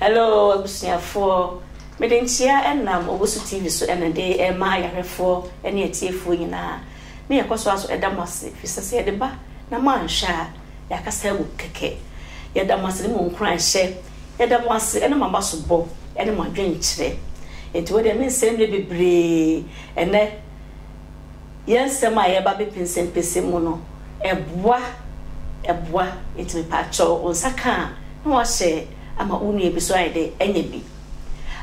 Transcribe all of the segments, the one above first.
Hello abusuafoɔ, mede nkyia ɛnam Owusu TV so ɛna de ɛrema ayarɛfoɔ ɛne atiefoɔ nyinaa. Ne yɛkɔ so ara so ɛda mo ase fisɛ sɛ yɛde ba na mo anhwɛ a yɛakasa agu kɛkɛ. Yɛda mo ase ne mo nkuranhyɛ, yɛda mo ase ɛne mo abasobɔ ɛne mo adwenkyerɛ. Nti wei deɛ mensɛe mmerɛ bebree ɛnɛ yɛn nsɛm a yɛba bepɛnsɛmpɛsɛm mu no, ɛboa, ɛboa. Enti mepaakyɛw, wo nsa ka a, na woahyɛ ama wo nua bi nso ayɛ dɛ anya bi.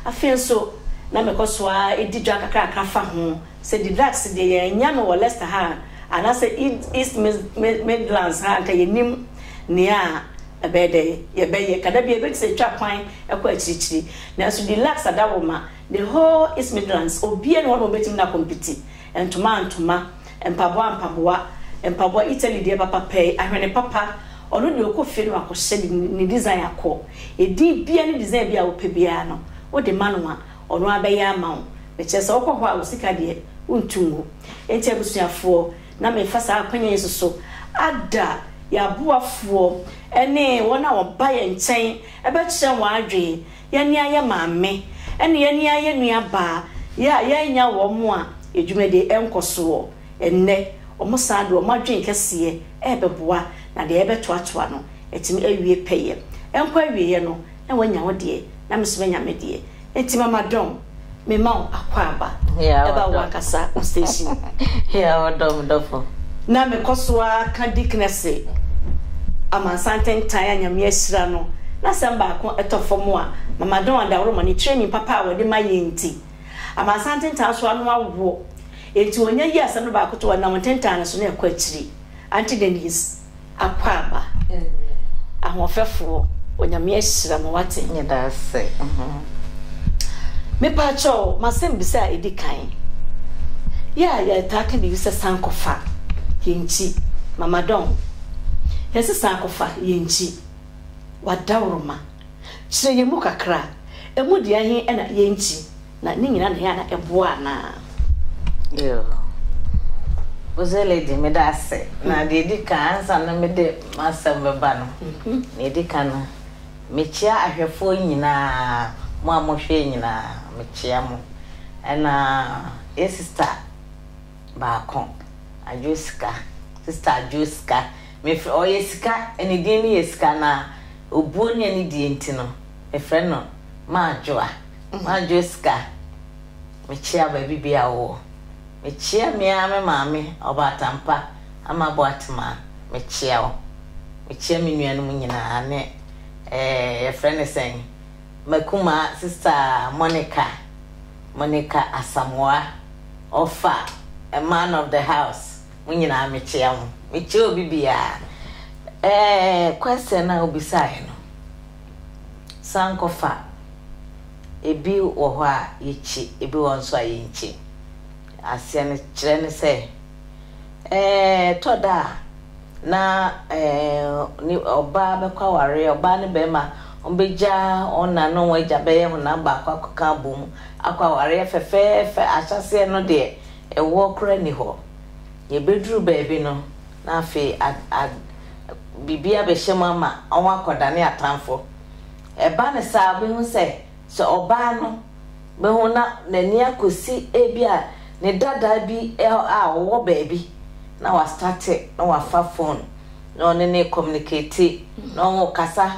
Afei nso, na mekɔ so ara di dwa kakrakra fa ho. Sɛ Didrax deɛ, yɛannya no wɔ Leicester ha anaasɛ East Midlands ha a, anka yɛnnim nea ɛbɛyɛ dɛ yɛbɛyɛ. Ka da bi a, ɛbɛyɛ te sɛ yɛtwa kwan kɔ akyirikyiri. Nanso Didrax ada wo ma The whole East Midlands obiaa ni hɔ nom obetumi na compete ntoma ntoma, mpaboa mpaboa, mpaboa Italy deɛ papa pɛɛ, ahwene papa, ɔno deɛ ɔkɔ fie no wakɔhyɛ de ne design akɔ, edin biaa ne design biaa wopɛ biaa no wode ma no a ɔno abɛyɛ ama wo, mekyerɛ sɛ wokɔ hɔ a wo sika deɛ wontu ngu. Enti abusuafoɔ na mefa saa akwannya yi nso so ada yɛn aboafoɔ ne wɔn a wɔba yɛn nkyɛn bɛkyerɛ wɔn adwene, Yɛn a yɛ maame ne yɛn a yɛ nuabaa yɛ a yɛannya wɔn a dwumadi nkɔ soɔ nnɛ, wɔn san de wɔn adwene kɛseɛ rebɛboa na deɛ yɛbɛtoatoa no atumi awie pɛyɛ. Ɛnkɔ awieɛ no na wanya wo deɛ na me nso manya me deɛ. Enti Mama Dɔn. mema wo akwaaba ɛba wo ankasa wo station mu. Yea, ɔdɔ me dɔfo. Na mekɔ so ara ka Dickness amansa ntentan a Nyame ahyira no n'asɛm baako tɔ fam a, Mama Dawn Adaworoma ne training papa a wɔde ma yɛn nti, amansa ntentan so ano awo. Enti ɔnya yi asɛm no baako to hɔ a, nam ntentan no so na ɛkɔ akyiri. Auntie Denise. akwaaba ahoɔfɛfoɔ onyame ahyira mo wate. Yɛda ase. Mepaakyɛw m'asɛmbisa a edi kan yɛ a yɛtaa ka biribi sɛ san kɔfa yɛn nkyi mama dɔn yɛse san kɔfa yɛn nkyi w'adaworoma kyerɛ yɛn mu kakra emu deɛn he na yɛn nkyi Na ne nyina na ɛyɛ a na ɛboa anaa? Yoo Ɔse lady meda ase na deɛ ɛdi kan ansa na mede m'asɛm bɛba no deɛ ɛdi kan no mekyea ahwɛfoɔ nyinaa mo a mohwɛ nyinaa mekyea mo ɛna yɛ sister baako Adwo Sika sister Adwo Sika mefrɛ ɔyɛ sika ne din no yɛ sika na obuo ne anidie nti no mefrɛ no Madwo a, madwo sika. Mekyea baabi biara a wowɔ. Mekyea me ara me maame, Ɔbaatampa Ama Boatemaa, mekyea wo. Mekyea me nuanom nyinaa ne eh, yɛfrɛ no sɛn, m'akumaa sista Monica, Monica Asamoah, ɔfa, a man of the house, mo nyinaa mekyea mo. Mekyea obi biara. Eh, question no a wobisaeɛ no, San kɔfa a, ebi wɔ hɔ a yekyi, ebi wɔ hɔ nso a yenkyi. Aseɛ no kyerɛ ne sɛ, ɛtɔ da a na ɔbaa bɛkɔ awareɛ, ɔbaa ne barima wɔbɛgya wɔn na ne wɔn agya bɛyɛ honam baako akɔka abom akɔ awareɛ fɛfɛɛfɛ. Ahyɛaseɛ no deɛ, ɛwoɔ koraa nni hɔ. Yɛbɛduru baabi no, na afei biribi abɛhyɛ mu ama wɔakɔdane atamfo. Ɛba no saa a, wubehu sɛ, sɛ ɔbaa no bɛ ho na n'ani akosi ebia ne dadaa bi a ɔwɔ baabi na wastate na wafa fon na ɔne no rekɔmunikati na wɔrekasa.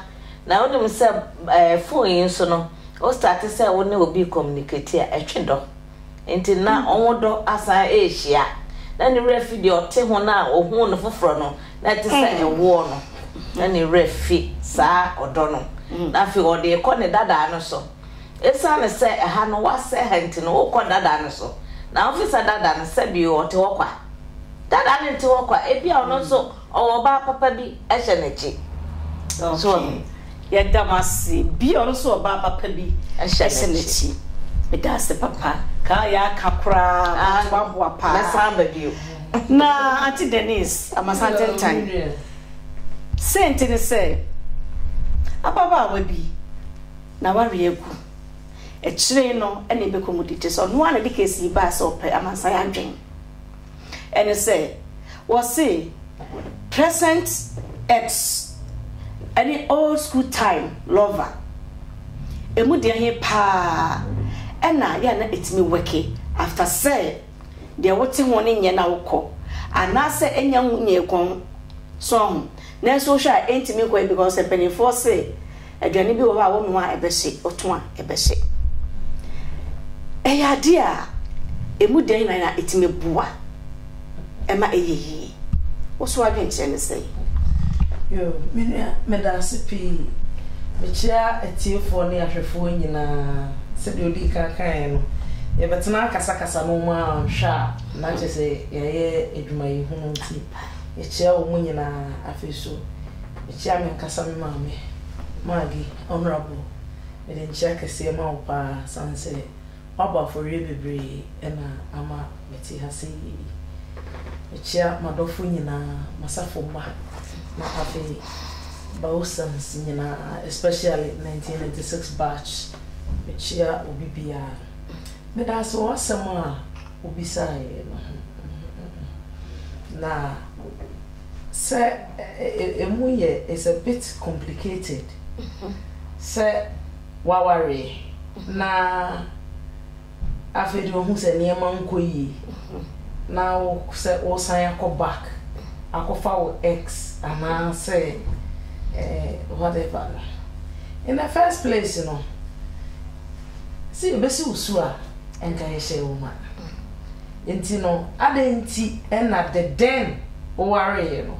Na wunim sɛ fon yi so no, wostate sɛ wo ne obi rekɔmunikati a, ɛtwe dɔ. ntsi na ɔnwo do asan eehyia. Nna no werɛ fi dɛ ɔtse ho no a ohun no fofor no, na tse sɛ ɛwoɔ no, nna no werɛ fi saa ɔdɔ no, na afei ɔde rekɔ ne dadaa no so. Esiane sɛ ha no wɔasɛɛ ha ntsi no, okɔ dadaa no so, na ɔnnsesa dadaa no, sɛbi ɔtse hɔ kwa. Dadaa no nntse hɔ kwa, ebia ɔno so Ɔwɔ ɔbaa papa bi hyɛ n'akyi. Okay, yɛda mo ase. Bi a ɔno nso wɔ ɔbaa papa bi hyɛ n'akyi. Meda ase papa. Ka a yɛaka koraa bɛtumi aboa paa. Mɛsan aba bio. Na Aunty Denise Amasah-Atentan, sei nti ne sɛ, ababaawa bi n'awareɛ agu. Akyire yi no ɛna ɛbɛkɔ mu di. Te sɛ ɔno ara na ɛde case yi baeɛ sɛ ɔpɛ amansan adwene. Ɛne sɛ, wɔse present ex ne old school time lover, ɛmu deɛ he paa na yɛ a na ɛtumi wɛke after sɛ deɛ wote ho no nyɛ na wokɔ anaasɛ ɛnya ho nyee kɔn, so ahu? Nanso wohwɛ a ɛntumi nkɔ yie because mpanimfoɔ se, Aduane bi wɔ hɔ a wonoa a ɛbɛhye, woto a ɛbɛhye. Ɛyɛ adeɛ a ɛmu dɛn na na ɛtumi boa ɛma ɛyɛ yie? Wo so adwenkyerɛ ne sɛn? Yo, me nua, meda ase pii. Mekyia atiefoɔ ne ahwɛfoɔ nyinaa. Sɛdeɛ ɔdii kan kaeɛ no, yɛbɛtena akasakasa na wɔn anhwɛ a, na kyerɛ sɛ yɛayɛ adwumayɛhunu nti, yɛkyia wɔn nyinaa. Afei nso, Mekyia me ankasa me maame Maggie Honourable mede nkyia kɛseɛ ma wo paa sane sɛ woabɔ afɔreɛ bebree na ama mete ha sɛ yie yi. Mekyia madɔfo nyinaa, masafo mma na afei Bausans nyinaa especially 1996 batch mekyia obi biara. Medaase wɔ w'asɛm a wobisaeɛ no ho na Sɛ ɛmu yɛ it's a bit complicated sɛ wawareɛ na afei deɛ ɔhu sɛ nneɛma nkɔ yie na wo sɛ wosan akɔ back akɔfa wo ex anaa sɛ eh, whatever no in the first place no sɛ yɛbɛsi wo su a ɛnka yɛhyɛ wo ma Nti no adɛn nti na the den wowareeɛ no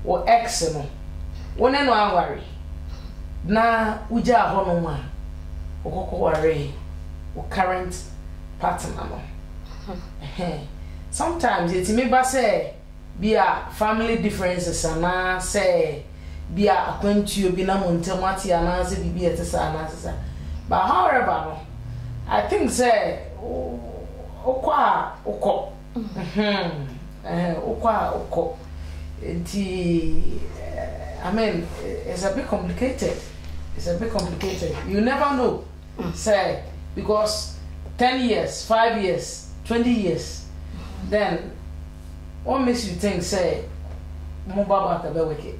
wo ex no wo ne no aware na wogyaa hɔ nom a wokɔkɔ waree wo current partner no ɛhɛn sometimes ɛtumi ba sɛ bi a family differences anaa sɛ bi a akwantuo bi na mo ntam ate anaa sɛ biribi ɛte saa anaa sesa but however no I think sɛ Wokɔ a wokɔ. Wokɔ a wokɔ. Nti, I mean, it's a bit complicated. It's a bit complicated. You never know. Sɛ, because ten years, five years, twenty years, then what makes you think sɛ mo ba back bɛ work it?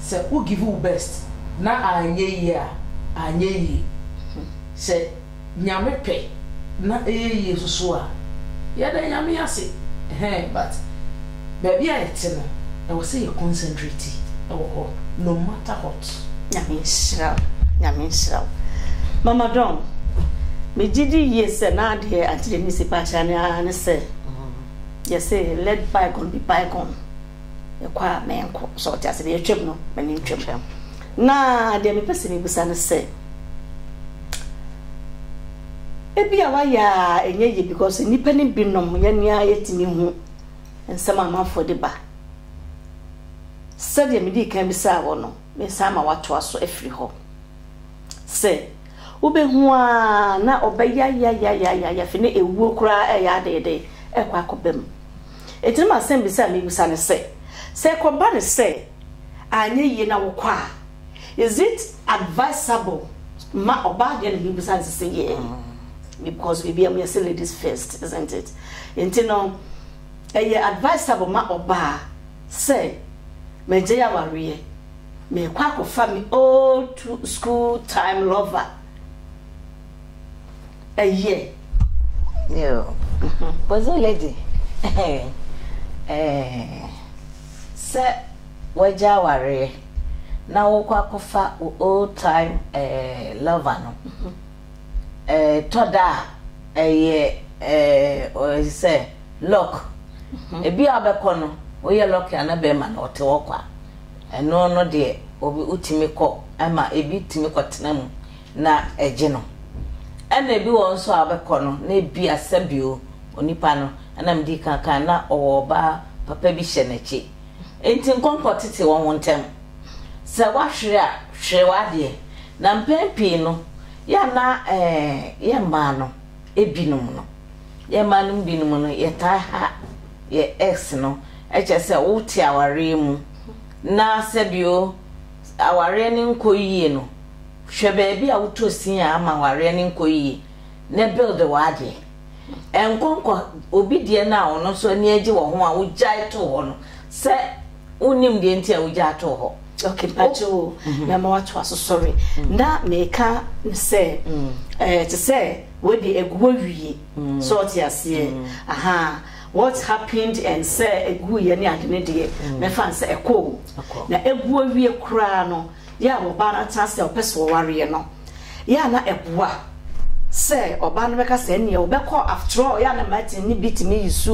Sɛ wo give wo best na anyɛ yie a, anyɛ yie. Sɛ Nyame pɛ na ɛyɛ yie nsoso a, yɛda Nyame ase ɛhɛn but baabi a yɛte no ɛwɔ sɛ yɛ concentrate wɔ hɔ no matter what. Nyame nhyira wo, Nyame nhyira wo. Mama Dawn, me gye di yie sɛ na deɛ Auntie Denise pɛ akyerɛ ne ara ne sɛ yɛse let bygone be bygone. Kɔ a menkɔ. So ɔte ase? Deɛ atwam no, m'ani ntwam. Na deɛ mepɛ sɛ mebisa ne sɛ, ebi a wayɛ a ɛnyɛ yie because nnipa no binom yɛne a yɛtumi hu nsɛm a amanfoɔ de ba. Sɛdeɛ medii kan bisaa wɔ no, mesan ma watoa so afiri hɔ. Sɛ wobɛhu a na ɔbɛyayayayaya fi ne ɛwuo koraa ɛyɛ adeede ɛkɔ akɔba mu. Enti na m'asɛmbisa a mibisa ne sɛ, sɛ ɛkɔba no sɛ annyɛ yie na wokɔ a, is it advisable ma ɔbaa deɛ na mibisa no sɛ yeah because biribiara mu yɛse ladies first isn't it? Enti no ɛyɛ advisable ma ɔbaa sɛ magyae awareɛ merekɔ akɔfa me old school time lover? Ɛyɛ. Yo. Bozo lady. Ɛɛ. Sɛ wagya awareɛ na wokɔ akɔfa wo old time ɛɛ lover no. Ɛɛ tɔ da a ɛyɛ ɛɛ ɔyɛ sɛ luck. Ebi a wobɛkɔ no woyɛ luck a na bɛrima no ɔte hɔ kwa. Ɛno no deɛ obi wotumi kɔ ɛma ebi tumi kɔ tena mu. na ɛgye no. Ɛna ebi wɔ hɔ nso a wobɛkɔ no na ebia sɛbio onipa no, ɛna mede kan kae no, na ɔwɔ ɔbaa papa bi hyɛ n'akyi. Enti nkɔnkɔ tete wɔn ntam. Sɛ woahwere a, hwere w'adeɛ. Na mpɛn pii no, yɛ a na ɛɛ yɛn mmaa no binom no, yɛn mmaa no mu binom no, yɛtaa ha yɛn ex no, kyerɛ sɛ wote awareɛ mu na sɛbio, awareɛ no nkɔ yie no hwɛ baabi a wotɔ sin a ama awareɛ no nkɔ yie na build w'adeɛ. Ɛnkɔ nkɔ obi deɛ no a ɔno nso ani agye wɔ ho a wogyae too hɔ no sɛ wonnim deɛ nti a wogyaa too hɔ. Ok mpakyɛ o mɛma watoa so sorry na meka no sɛ ɛɛ te sɛ wei deɛ agu hɔ wie sɛ ɔte aseɛ ahaa. What happened and sɛ ɛguiɛ ne ade no deɛ mɛfa no sɛ ɛkɔ o. Na ɛgu awie koraa no yɛ a ɔbaa no atena ase a ɔpɛ sɛ ɔwareɛ no yɛ a na ɛboa sɛ ɔbaa no bɛka sɛ ɛnneɛ ɔbɛkɔ after all yɛ a na Martin ne bi tumi use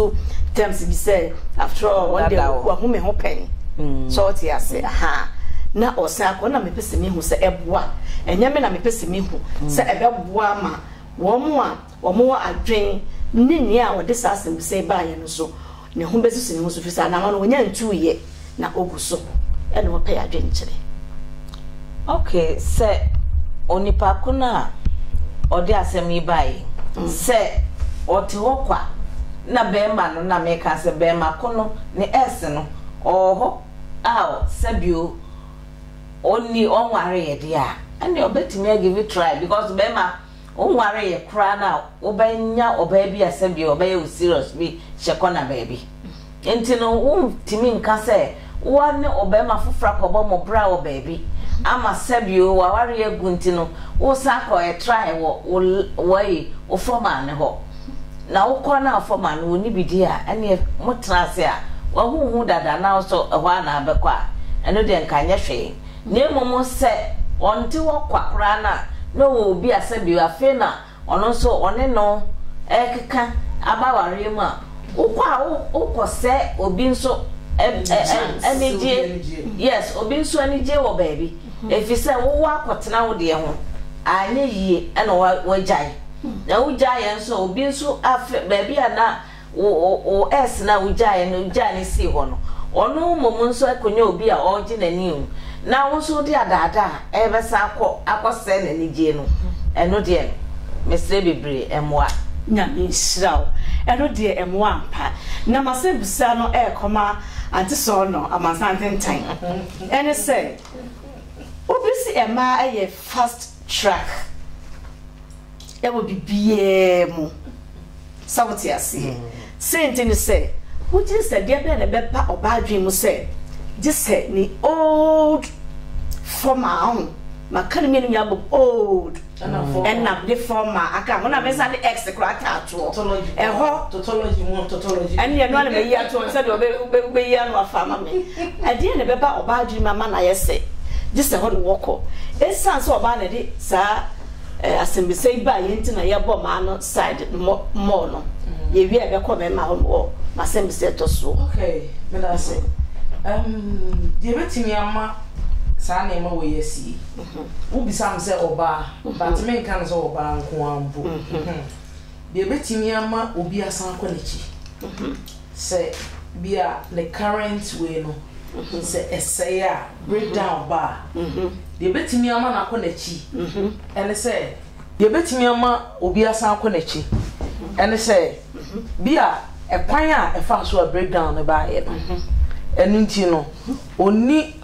terms bi sɛ after all wɔn deɛ wahu me ho pɛn sɛ ɔte ase aha na ɔsan akɔ na mepɛ sɛ mehu sɛ ɛboa ɛnyɛ me na mepɛ sɛ mehu sɛ ɛbɛboa ma wɔn a wɔn adwene ne nea ɔde saa asɛmmisa yi baeɛ no so ne ho bɛsisi ne ho so, ɛfiri sɛ anaa no wɔnya ntuiɛ na ɔgu so na ɔpɛ adwenkyerɛ. Ok, sɛ onipa ko no a ɔde asɛm yi baeɛ mm. sɛ ɔte hɔ kwa na bɛrima no na meka sɛ bɛrima ko no ne ɛs no ɔwɔ hɔ a sɛbio ɔnni ɔnwareɛ deɛ a ɛne ɔbɛtumi agive try because bɛrima Wonwaree koraa no a wobɛnya ɔbaa bi a sɛdeɛ ɔbɛyɛ wo serious bi hyɛ kɔna baabi. Nti no wontumi nka sɛ wo ne ɔbarima foforɔ akɔbɔ mo bra wɔ baabi ama sɛdeɛ w'awareɛ agu nti no wosan akɔ ɛtrae wɔ wo wɔyi wo fɔmaa no hɔ. Na wokɔ no a fɔmaa no wɔnni bi di a ɛneɛ motena ase a wahu wo ho dada na wo nso ɛhɔ a na wobɛkɔ a ɛno deɛ nka nyɛ hwee. Na mmom sɛ ɔnte hɔ kwa koraa no a, na ɔwɔ obi a sɛdeɛ afei na ɔno nso ɔne no rekeka aba awareɛ mu a, wokɔ a wokɔsɛe obi nso anigyeɛ, yes, obi nso anigyeɛ wɔ baabi, ɛfiri sɛ wowɔ akɔtena wo deɛ ho, anyɛ yie na woagyae, na wogyaeɛ nso a obi nso afei baabi a na Wo wo S no a wugyaeɛ no wugyaa no sii hɔ no, ɔno mmom nso akɔnya obi a ɔregye n'ani o, na wo nso wode adaadaa a ɛrebɛsan akɔ akɔsɛe n'anigyie no, ɛno deɛ mesrɛ bebree ɛmmoa. Nyame nhyira wo. Ɛno deɛ ɛmmoa ampa. Na m'asɛmbusa no ɛrekɔma Ante Sɔɔnɔ Amansan Tentan. Ɛne sɛ, wobesi ɛmaa ɛyɛ fast track. wɔ biribiara mu. Sɛ wote aseɛ? Sei nti ne sɛ, wogye di sɛ deɛ bɛn na ɛbɛba ɔbaa adwene mu sɛ gye sɛ ne old former ho maka no mmienu nyinaa bom old ɛna ne former aka ho na mensa de x koraa ataatoɔ ɛhɔ ɛne ɛno ana mayi atoɔ sɛ deɛ wobɛyi ano afa ama me ɛdeɛ na ɛbɛba ɔbaa adwene mu ama no ayɛ sɛ gye sɛ hɔ ne wɔkɔ ɛsiane sɛ ɔbaa na ɛde saa asɛmbisa yi baa yɛn ntsi na yɛbɔɔ m'ano side no more no. Yewieɛ a bɛkɔɔ mɛma hɔ wɔ m'asɛmbisa ɛtɔ so. Okay, meda ase. Um, deɛ bɛtumi ama saa nneɛma wɔ yi asi yi, mhm. wobisa m sɛ ɔbaa, mhm. but menka no sɛ ɔbaa nko ara mpo. Mhm. Deɛ bɛtumi ama obi asan kɔ n'akyi. Sɛ bi a ne current wei no sɛ ɛsɛe a, breakdown ba a, deɛ ɛbɛtumi ama no akɔ n'akyi ne sɛ, deɛ ɛbɛtumi ama obi asan akɔ n'akyi ne sɛ bi a ɛkwan a ɛfa so a breakdown no baeɛ no ɛno nti no ɔnni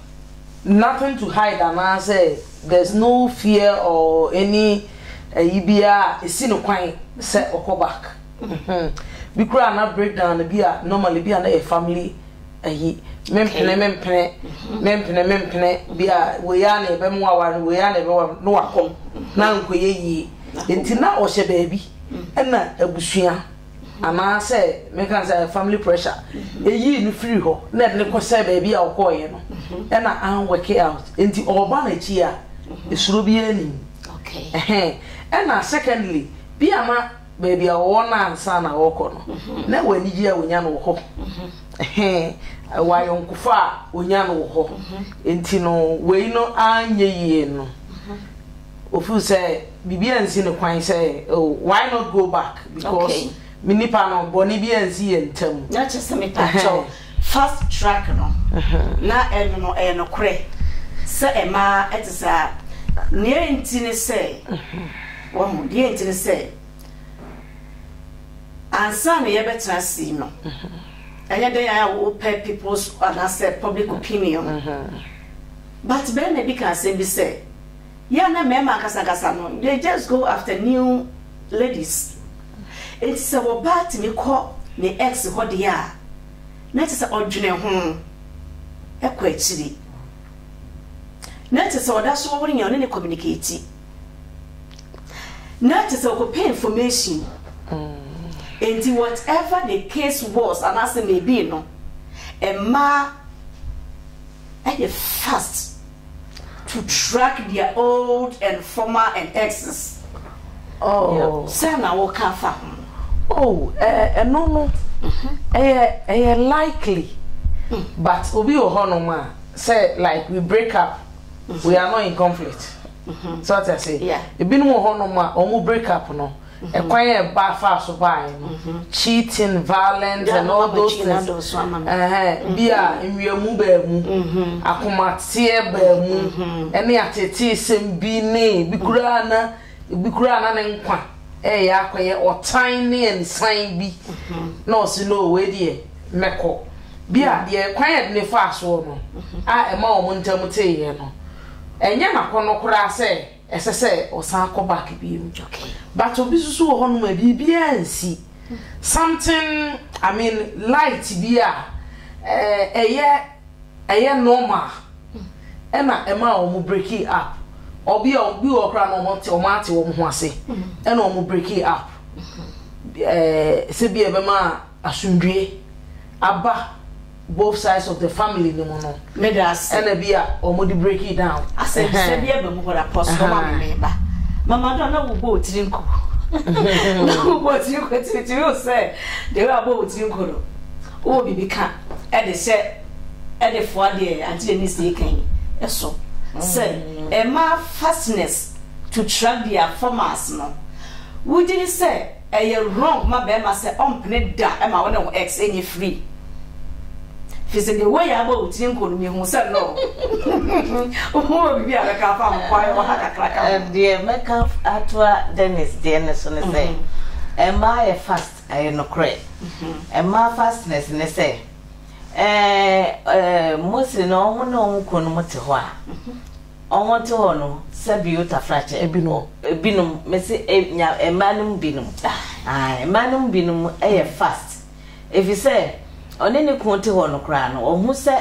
nothing to hide anaasɛ there's no fear or any ɛyi biara a ɛsi no kwan sɛ ɔkɔ back. Bi koraa na break down no bi a normally bi a na yɛ family ayi mempene mempene mempene mempene bi a wei a na ɛbɛmo aware no wei a na ɛbɛwa no wakɔ na nkɔyɛ yie nti na ɔhyɛ baabi ɛna abusua anaasɛ meka sɛ family pressure ɛyii no firi hɔ na ɛde ne kɔsɛ baabi a ɔkɔɔyɛ no ɛna anwɛke out nti ɔba no akyi a ɛsuro biara nim ɛna secondly bi a na baabi a wɔwɔ no ansa na wɔrekɔ no, na ɛwɔ anigye a wɔnya no wɔ hɔ. Ɛwɔ ayɔnkofa a wɔnya no wɔ hɔ. Enti no, wei no anyɛ yie no, wɔfeel sɛ biribi ansi ne kwan sɛ, oh, why not go back? Because me nipa no, bɔne bi ansi yɛn ntam. Fast track no, na ɛno no ɛyɛ nokorɛ sɛ ɛmaa ɛte saa. Nea enti ne sɛ, wahu, deɛ enti ne sɛ, ansa na yɛbɛtena ase yi no, ɛnyɛ dɛn ara a wopɛ people's anaasɛ public opinion. But barima bi kaa asɛm bi sɛ, Yɛ a na mmarima akasakasa no, they just go after new ladies. Enti sɛ ɔbaa tumi kɔ ne ex hɔ deɛ a, na kyerɛ sɛ ɔdwene ho kɔ akyiri. Na kyerɛ sɛ ɔda so wɔ ne ɔne ne communicate. Na kyerɛ sɛ ɔkɔpɛ information. Enti whatever the case was anaasɛ maybe no, mmaa yɛ fast. to track their old and former and exes oh sɛ na wo ka fa ho oh ɛno no ɛyɛ ɛyɛ likely mm. but obi wɔ hɔ nom a sɛ like we break up mm-hmm. we are not in conflict mm-hmm. so ɔte ase ebinom wɔ hɔ nom a wɔn break up no. Ɛkwan a ɛba faa so baeɛ no, cheating, violence and all those things, ɛhɛn, bi a nwiamu baa mu, akomateɛ baa mu, ɛne ateeteesɛm bi ne bi koraa na bi koraa na ne nkwa ɛyɛ akɔyɛ ɔtan ne anisan bi na ɔsi no wei deɛ mɛkɔ bi a deɛ kwan a ne faa soɔ no a ɛma wɔn ntam teeɛ no ɛnyɛ n'akɔnɔ koraa sɛ. Ɛsɛ sɛ ɔsan kɔ back biom. Okay. But obi susu wɔ hɔ nom a biribiara nsi. Something, I mean light bi a eh, ɛyɛ ɛyɛ normal ɛna ɛma wɔn break it up. Obi a obi wɔ koraa na wɔn te wɔn ate wɔn ho ase ɛna wɔn break it up. Eh, sɛ bi ɛbɛma asomdwie aba both sides of the family no mu no ɛna bi a ɔmo de break it down. Asɛmtitire bi aba mu hɔ na pɔs no ma me me ba mama do a na wo bɔ otiri nko na wo bɔ otiri nko ti ti wo sɛ de wo abɔ otiri nko no wo wɔ bibi ka ɛde sɛ ɛde fo adeɛ ante yɛ miss yɛ kan ɛso sɛ ɛma fastness to track their formats no wo gyiri sɛ Ɛyɛ wrong ma bɛɛma sɛ ɔmpene da ma wone wo ex nyɛ free fisɛ deɛ woyɛ abɔ wo tiri nko no mehu sɛ no wo wɔ biribi a bɛka afa ho kwa yɛ wɔ ha kakra ka ho deɛ mɛka atoa Dennis deɛ no so ne sɛ mmaa yɛ fast ɛyɛ nokorɛ mmaa fastness ne sɛ ɛɛ mostly na wɔn ne wɔn kunu no mo te hɔ a wɔn te hɔ no sɛ bio tafrakyɛ. Ebinom. Ebinom, mese e, nya, mmaa no mu binom. Ae, mmaa no mu binom yɛ fast, efisɛ ɔne ne kunu te hɔ no koraa no, ohu sɛ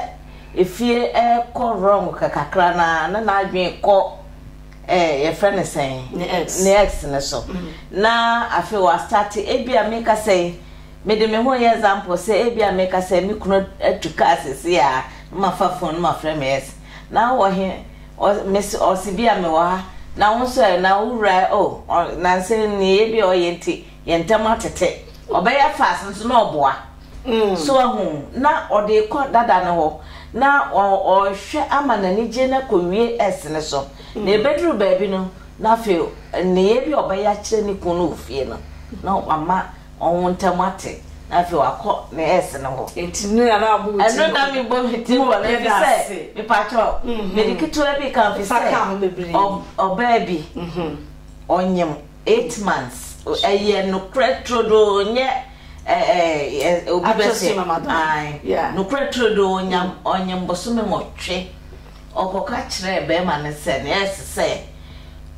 efie rekɔ wrong kakra no ara na n'adwene kɔ ɛ, yɛfrɛ no sɛn? Ne ex. Ne ex no so. Na afei wastate, ebia meka sɛ, mede me ho yɛ example sɛ ebia meka sɛ me kunu atu kaa seesei a, na mafa phone no mafrɛ me ex. Na wowɔ he? Ɔ, mese, ɔse bi a mewɔ ha. Na wo nso ɛ? Na wo wura ɛ? O, ɔ, nanse nneyɛe bi a ɔyɛ nti, yɛn ntam atete. Ɔbɛyɛ fast nso na ɔboa. So ahu? Na ɔde rekɔ dada no hɔ, na ɔ, ɔrehwɛ ama n'anigye no akowie S no so. Na ebeduru baabi no, na afei nneyɛe bi a ɔbɛyɛ akyerɛ ne kunu no wɔ fie no, na wama wɔn ntam ate, na afei wakɔ ne ex no hɔ. Nti no na wabɔ wo ti bɔ no. Ɛno na me bɔ me ti bɔ no efisɛ mepakyɛw mede ketewa bi ka efisɛ ɔbaa bi ɔnyem eight months ɛyɛ nokorɛ turodoo nyɛ obi bɛsɛ nokorɛ turodoo ɔnyem bosome nwɔtwe. Ɔkɔka kyerɛɛ barima no sɛ nea ɛsɛ sɛ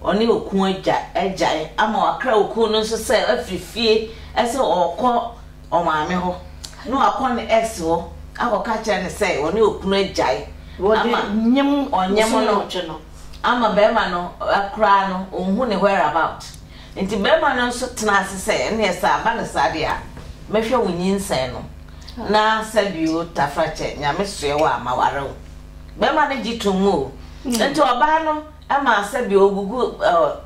ɔne okun agya agyae ama wakra okun no nso sɛ afiri fie sɛ ɔrekɔ ɔmaame hɔ na wakɔ ne ex hɔ akɔka kyerɛ no sɛ ɔne okunu agyae ama ɔnyem no ama barima no koraa no ɔnhu ne where about nti barima no nso tena ase sɛ ɛneɛ sɛ aba no saa deɛ a mɛhwɛ wo nyinsɛn no. Na Sɛbio Tafrakye Nyame soɛ wo a ma ware wo. Bɛma no gye tom mu o. Nti ɔbaa no ma Sɛbio ogugu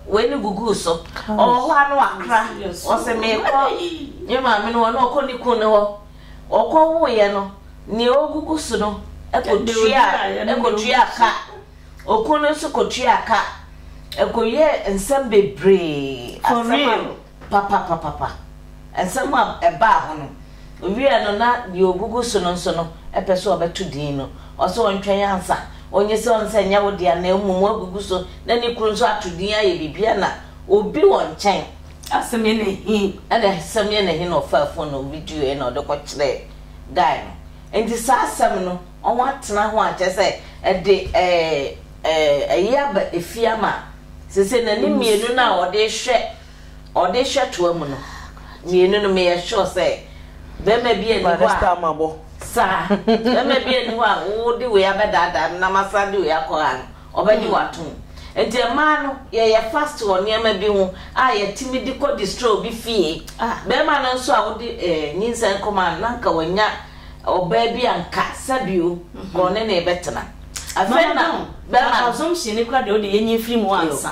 wei no guguu so. Ɔwɔ hɔ a na wakra. Ɔse mekɔ me maame no hɔ na ɔkɔ ne kun no hɔ. Ɔkɔ woeɛ no neɛ ɔgugu so no kɔ tua ka. Okun no nso kɔ tua ka. Ɛkɔ wiɛ nsɛm bebree. For real. Papapapapa! Nsɛm a ɛbaa hɔ no, owiee no na deɛ ɔgugu so no nso no pɛ sɛ ɔbɛto din no. Ɔse ɔntwɛn ansa, ɔnyɛ sei ɔnsɛ nyɛ wo dea na mmom wagugu so na ne kunu nso ato din ayɛ biribiara na obi wɔ nkyɛn. Asɛm yɛ na he na asɛm yɛ na he na ɔfaa phone no videoɛ na ɔde kɔkyerɛɛ guy no. Nti saa asɛm no. wɔatena ho a, kyerɛ sɛ, ɛde ɛyɛ aba efie ama a, seesei na ne mmienu no a ɔde rehwɛ ɔde rehwɛ toa mu no, mmienu no meyɛ sure sɛ bɛrima bi ani hɔ a saa bɛrima bi ani hɔ a wode wei abɛdaadaa no na masan de wei akɔ ha no ɔbɛgye w'atom nti mmaa no yɛyɛ fast wɔ nneɛma bi ho a yɛtumi de kɔ destroy bi fie bɛrima no nso a wode nyinsɛn kɔma no na nka wanya ɔbaa bi anka sa bio ka ɔne ne bɛtena afei na bɛma no. Assumption no kora deɛ wode yɛnyi mfiri mu ansa.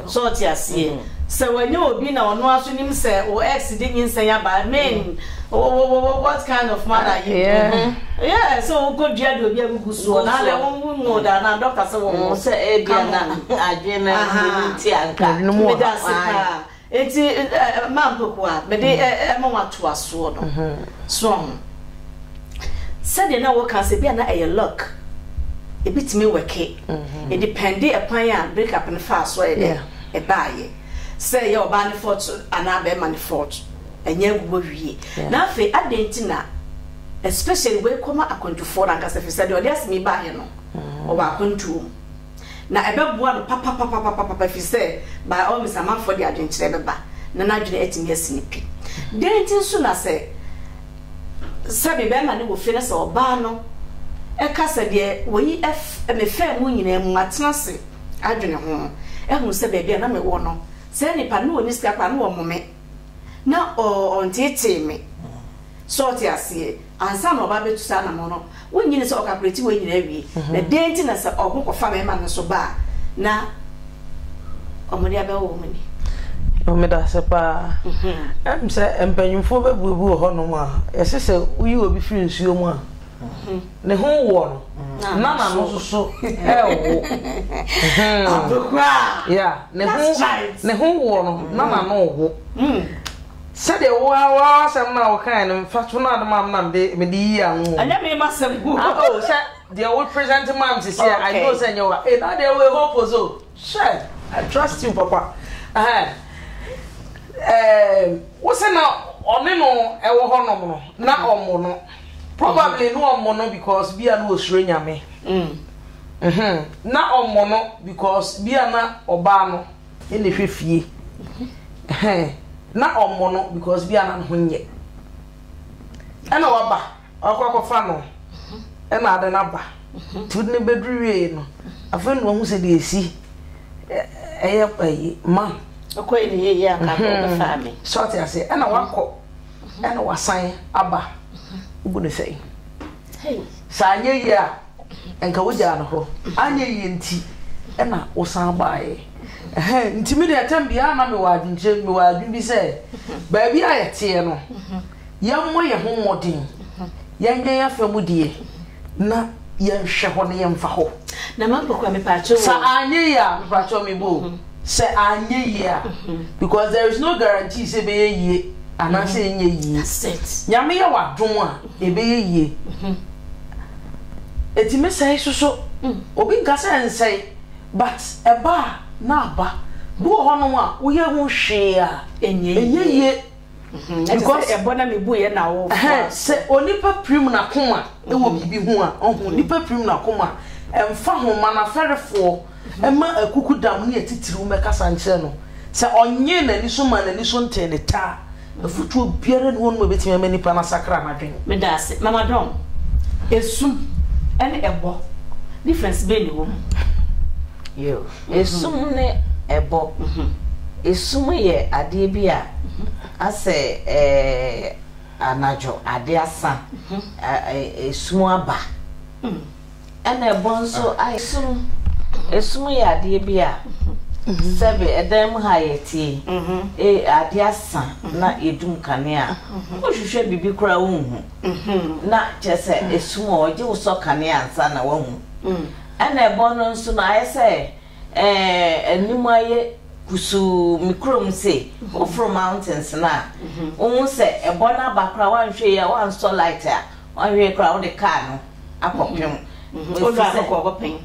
So ɔte aseɛ? Sɛ wanya obi na ɔno ara nso nim sɛ wo ex de nyinsɛn aba, I mean, what kind of man are you? Yeah, sɛ wokɔ dua de obi agugu soɔ na adɛ wo wo mu da na doctor sɛ wɔwɔ. Sɛ ebi na adwene no nti anka. Meda ase paa. Enti mma mpaku a mede rema wo atoasoɔ no, soa ho. Sɛdeɛ na woka sɛ ebia na ɛyɛ luck, ebitumi wɛke, ɛdipɛnde ɛkwan a break up no faa so a ɛyɛ dɛ ɛbaeɛ. Sɛ ɛyɛ ɔbaa no fault anaa bɛrima no fault, ɛnyɛ agu hɔ wie. Na afei adɛn nti na especially wei kɔma akwantufoɔ no ankasa, ɛfiri sɛ deɛ ɔde asɛm yi baeɛ no, ɔwɔ akwantuo mu. na ɛbɛboa no papapapapapa ɛfiri sɛ by all means amanfoɔ de adwenkyerɛ bɛba na n'adwene atumi asi no pi. Dɛn nti nso na sɛ sɛbe bɛrima no wɔ fie na sɛ ɔbaa no ɛka sɛ deɛ wɔyi mefaa mu nyinaa mu matena ase adwene ho ahu sɛ baabi a na mewɔ no saa nipa no ɔni sika koraa na ɔmome. na ɔnnteetee me. So ɔte aseɛ? Ansa na ɔba bɛtu saa anamɔn no, wonnye nni sɛ ɔkapreti wei nyinaa wie? Na dɛn nti na sɛ ɔko kɔfa bɛrima no so ba a, na wɔde abɛwɔ wɔn ani? Meda ase paa. Ɛm sɛ mpanimfoɔ bɛbuebue hɔnom a, ɛsɛ sɛ woyi obi firi nsuo mu a. Ne ho woɔ no, na n'ano nso so ɛrewo. Abekura. Yeah, ne ho ne ho woɔ no, na n'ano wo. Hmm. Sɛdeɛ wo ara w'asɛm no a wokae no mfa to no ade ma na mede mede yi ano. Ɛnyɛ me ma sɛm gu. Ah, oh, sɛ deɛ wo present ma me sisi a, I know sɛ nyɛ wa. Eh, na deɛ wo hope o so. Sure, I trust you, papa. Uh-huh. Eh, wo sɛ na ɔne no ɛwɔ hɔ nom no, na ɔmo no. probably no ɔmo no because bia no osuro nyame mm. mhm na ɔmo no because bia na ɔbaa no ɛna hwɛ fie mhm. na ɔmo no because bia na no ho nyɛ ɛna waba ɔkɔ akɔfa no mhm. ɛna ade no aba mhm. tu ne bɛduru wie no afei na ɔhu sɛ deɛ ɛsi ɛyɛ ayi ma ɔkɔ ɛne yɛyɛ aka ɔbɛfa me sɔte ase ɛna wakɔ ɛna wasan aba wobu no sɛn sɛ anyɛ yie a nka wogyaa no hɔ anyɛ yie nti ɛna wosan baeɛ ɛhɛ nti me deɛ ɛtɛm biara na mewɔ adwenkyerɛ mewɔ adwen bi sɛ baabi a yɛteɛ no yɛmmɔ yɛn ho mmɔden yɛnyɛ yɛn afa mu deɛ na yɛnhwɛ hɔ na yɛmfa hɔ na mankɔkora mepaakyɛ wɔ sa anyɛ yie a mepaakyɛ mebɔ o Sɛ anyɛ yie a, because there is no guarantee sɛ ɛbɛyɛ yie anaasɛ mm-hmm. ɛnyɛ yie. That's it. Nyame yɛ w'adom a, mm-hmm. ɛbɛyɛ yie. Mm-hmm. Ɛtumi sɛe soso. Mm. Obi nka sɛ nsɛe, but ɛba a na aba. Bi wɔ hɔnom a woyɛ ho hwee a ɛnyɛ yie. because ɛbɔ na mebu yɛ na wo sɛ onipa pirim n'akoma ɛwɔ biribi ho a ɔho nipa pirim n'akoma ɛmfa ho ma n'afɛrefoɔ ɛma akuku dam ne atitiriw mɛkasa nkyerɛ no sɛ ɔnye n'ani so ma n'ani so ntee ne taa afutuo biara ne wɔnom ɛbɛtumi ama nipa no asakra n'adwene meda ase mama dɔn esum ɛne ɛbɔ difference bɛn ne wɔ mu Esum ne ɛbɔ. Esum yɛ adeɛ bi a asɛ anadwo adeɛ asa, esum aba. Ɛna ɛbɔ nso ayɛ sum. Esum yɛ adeɛ bi a sɛbe ɛdan mu ha yɛtie yi, adeɛ asa na yɛdum kanea a, wohwehwɛ biribi koraa wonhu. Na kyerɛ sɛ esum a ɔgye wo sɔ kanea ansa na woahu. Ɛna ɛbɔ no nso no ayɛ sɛ eh anim ayɛ kusuu me kurom se woforo mountains no a wohu sɛ ɛbɔ no aba koraa woanhwɛ yie a woansɔ light a woanhwɛ yie koraa wode car no akɔ pem Wodura hɔ kɔ kɔpɛn?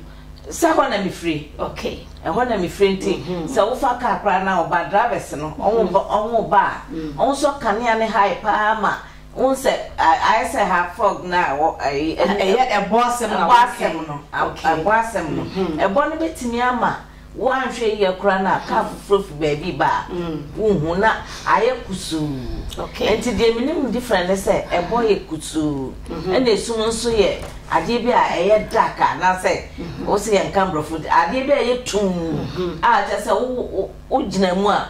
Sɛ hɔ na mefiri Okay. ɛhɔ na mefiri nti sɛ wofa car koraa na ɔba drivers no ɔho ba a ɔnsɔ kanea no high paa ma Wohu sɛ ayɛ sɛ ha frog no a wɔ ɛyi ɛne ɛyɛ ɛbɔ asɛm na ɛbɔ asɛm no ɛbɔ asɛm no ɛbɔ no bɛtumi ama woanhwɛ yie koraa no a kaa foforɔ fi baabi ba a wonhu na ayɛ kusuu nti deɛ menim different ne sɛ ɛbɔ yɛ kusuu ɛna esum nso yɛ adeɛ bi a ɛyɛ dark a anaasɛ wo sɛ yɛnka mborɔfo adeɛ bi a ɛyɛ tum a kyɛ sɛ wogyina mu a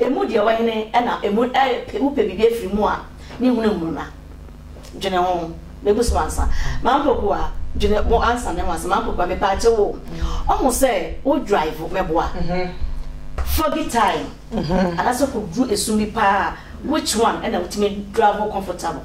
Emu deɛ wɔ hene na emu ɛɛ wo pɛ biribi afiri mu a ne hunu mmuru na dwene ho na gu so ansa ma mpokua dwene mo ansa ne ho ansa ma mpokua me paakyɛ wo ɔho sɛ wo drive me boa foggy time anasɛ kɔ duru esum bi paa which one ɛna wotumi drive comfortable.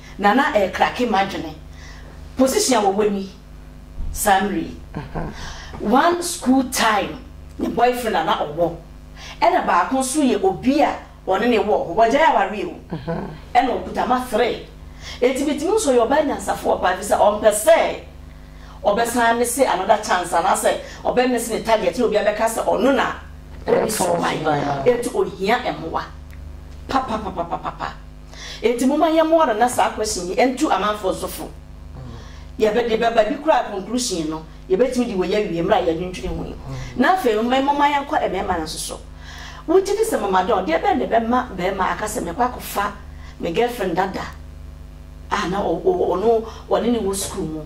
Na na ɛrekrake m'adwene. Position a wɔwɔ ni, saa mmerɛ yi. One school time ne boyfriend a na ɔwɔ, ɛna baako nso yɛ obi a ɔne no wɔ hɔ. Wagyae awareɛ o, ɛna ɔkuta mma three. Enti metumi hu sɛ ɔyɛ ɔbaa nyansafoɔ paa ɛfiri sɛ ɔmpɛ sɛ ɔbɛsan mese another chance anaasɛ ɔbɛ miss ne target na obi abɛka sɛ ɔno na ɔresubae. Enti ɔhia mmoa papapapapapa. Enti momma yɛmmoa no na saa question yi ntu amanfoɔ nso fo. Yɛde bɛba bi koraa conclusion no yɛbɛtumi de wei awie mmerɛ a yɛadwendwene ho yi. Na afei nso momma yɛnkɔ mmarima no nso so. Wogye di sɛ Mama Dawn, deɛ bɛn na ɛbɛma barima aka sɛ mɛkɔ akɔfa me girlfriend dada a na ɔne ne wɔ sukuu mu?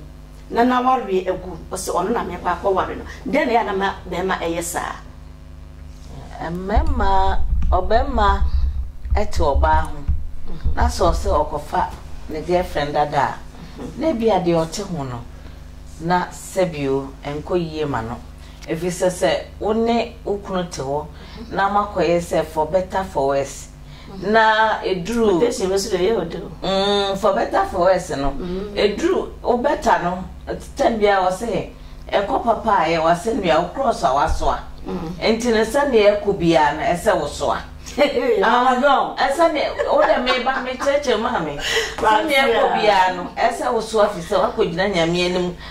na n'awareɛ agu, ɔse ɔno na merekɔ akɔware no, dɛn na ɛyɛ a na ma bɛɛma ɛyɛ saa? Mɛma ɔbɛɛma ɛte ɔbaa ho, na sɛ ɔse ɔkɔfa ne girlfriend dada a, na ebia deɛ ɔte ho no na sɛbio ɛnkɔ yie ma no, ɛfiri sɛ sɛ wo ne wo kunu te hɔ na mo akɔyɛ sɛ for better for worse na eduru mm for better for worse no mm. eduru wo better no tɛm bia wɔ se ɛkɔ papa a yɛ wase nua wo cross a wasoa mm. nti no sɛdeɛ ɛkɔ biara no ɛsɛ wo soa ahɔdɔn ɛsɛ ne wo dɛ meba mekyerɛkyerɛ maa me sɛdeɛ ɛkɔ biara no ɛsɛ wo soa fi sɛ woakɔgyina nyame anim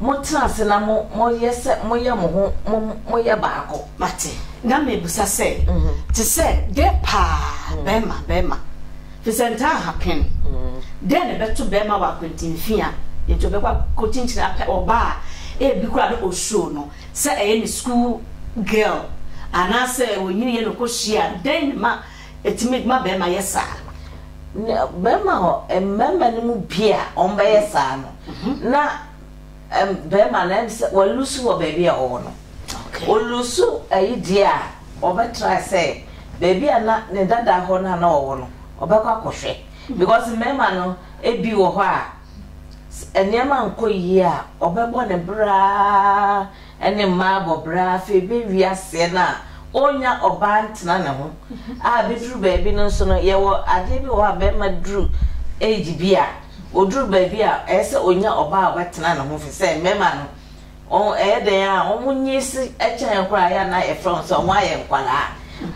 Motena ase na moyɛ sɛ moyɛ mo ho mo moyɛ baako. Mate, na mebisa sɛ, Te sɛ dɛn paa? Bɛrima, bɛrima. Fi sɛ ntaa ha pen. Dɛn na ɛbɛto bɛrima wɔ akwanti mfi a enti ɔbɛkɔ akɔkyinkyini apɛ ɔbaa a ebi koraa na osuro no sɛ ɛyɛ ne sukuu girl anaasɛ ɔnyiniiɛ na ɔkɔhyiaa no? Dɛn na ɛma Etumi ma barima yɛ saa. Na barima hɔ, mmarima no mu bi a wɔbɛyɛ saa no, na barima no ɛm sɛ walusu wɔ baabi a ɔwɔ no. Olusu ayi deɛ a, ɔbɛtrae sɛ baabi a na ne dada hɔ no a na ɔwɔ no, ɔbɛkɔ akɔhwɛ. Because mmarima no, ebi wɔ hɔ a, nneɛma nkɔ yie a, ɔbɛbɔ ne bra ara ne mmaa bɔ bra afei bɛ wi aseɛ no a ɔnnya ɔbaa ntena ne ho a bɛduru baabi no nso no yɛwɔ adeɛ bi wɔ hɔ a bɛrima duru age bi a ɔduru baabi a ɛyɛ sɛ ɔnnya ɔbaa a ɔbɛtena ne ho firi sɛ mmarima no wɔn ɛyɛ dɛn a wɔn nyee se kyɛn yɛn koraa yɛ a na yɛfrɛ wɔn sɛ wɔn ayɛ nkwadaa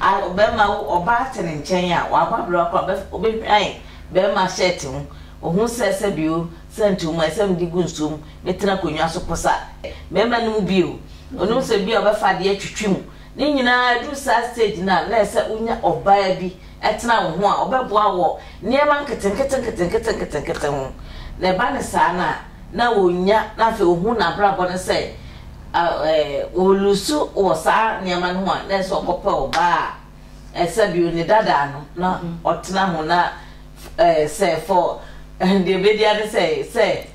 a bɛrima wo ɔbaa te ne nkyɛn a wabɔ abira koraa ɔbɛ ɔbɛhwan bɛrima shirt ho ɔhu sɛ sɛ bio Sɛ nti woma ɛsɛ mede gu nsuo mu ne tena akonnwa so posa mmarima no mu bio. Onim sɛ bi a ɔbɛfa adeɛ atwitwi mu. Ne nyinaa ɛduru saa stage no a na ɛsɛ wonya ɔbaa bi ɛtena wo ho a ɔbɛboa wɔ nneɛma nketenkete nketenkete nketenkete ho. Na ɛba no saa no a na ɔnya na afei ɔhu n'abrabɔ no sɛ ɔlusu wɔ saa nneɛma no ho a na ɛsɛ ɔkɔpɛ ɔbaa a ɛsɛ bio ne dadaa no na ɔtena ho na ɛɛ sɛ fɔ deɛ bɛdi ade sɛ sɛ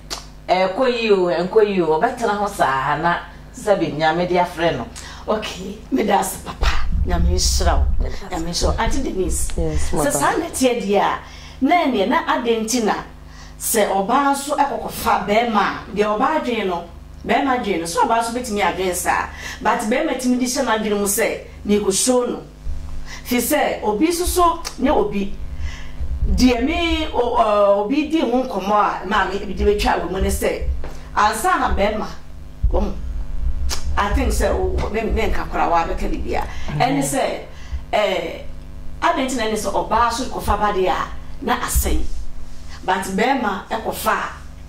ɛkɔ yi o ɛnkɔ yi o ɔbɛtena ho saa na sɛbi nyame de afrɛ no. ok meda ase papa nyame nhyira wo nyame nhyira wo ante denise sɛ saa na ɛteɛ deɛ a na ɛneɛ na adɛn nti na sɛ ɔbaa nso ɛkɔkɔfa bɛɛma a deɛ ɔbaa adwene no Bɛɛma dwen no so ɔbaa so bɛtumi adwen saa but bɛɛma tumi de hyɛ nadwene mu sɛ meeku show no fisɛ obi soso ne obi deɛ me o obi di ho nkɔmɔ a maa me de bɛtwa wɔ mu ne sɛ ansa na bɛɛma wahu I think sɛ o me me nka kora waa bɛka bibia ɛne sɛ ɛɛ adɛn ti na ɛne sɛ ɔbaa so kɔfa ba deɛ a na asɛe but bɛɛma ɛkɔfa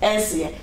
a ɛnseɛ.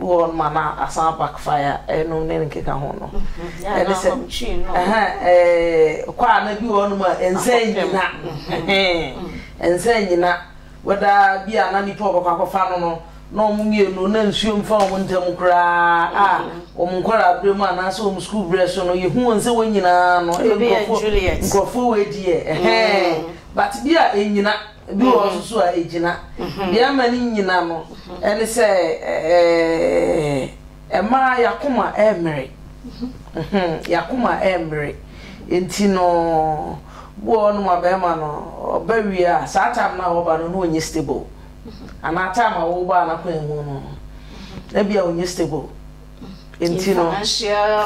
Wɔ ma na asan back fire ɛnom ne nkeka ho no ɛne sɛ ɛɛ kɔ a na bi wɔ nom a ɛnsɛ nyina ɛnsɛ nyina wɛda bi a na nipa ɔbɛkɔ akɔfa no no na wɔn mmienu na nsuo mfa wɔn ntam koraa a wɔn nkɔla abere mu anaasɛ wɔn sukuu berɛ so no yɛhu wɔn sɛ wɔn nyinaa no nkurɔfoɔ nkurɔfoɔ wɔ adiɛ ɛhɛn but bi a ɛnyina. Ebi wɔ hɔ nso a egyina. Deɛ ama no nyina no ɛne sɛ ɛɛ mmaa yakoma ɛmmere. Yakoma ɛmmere. Nti no bi wɔ hɔ nom a bɛrima no ɔba wie a saa time no a ɔba no na ɔnyɛ stable. Anaa time a woba a n'akwan mu no ebi a ɔnyɛ stable. nti no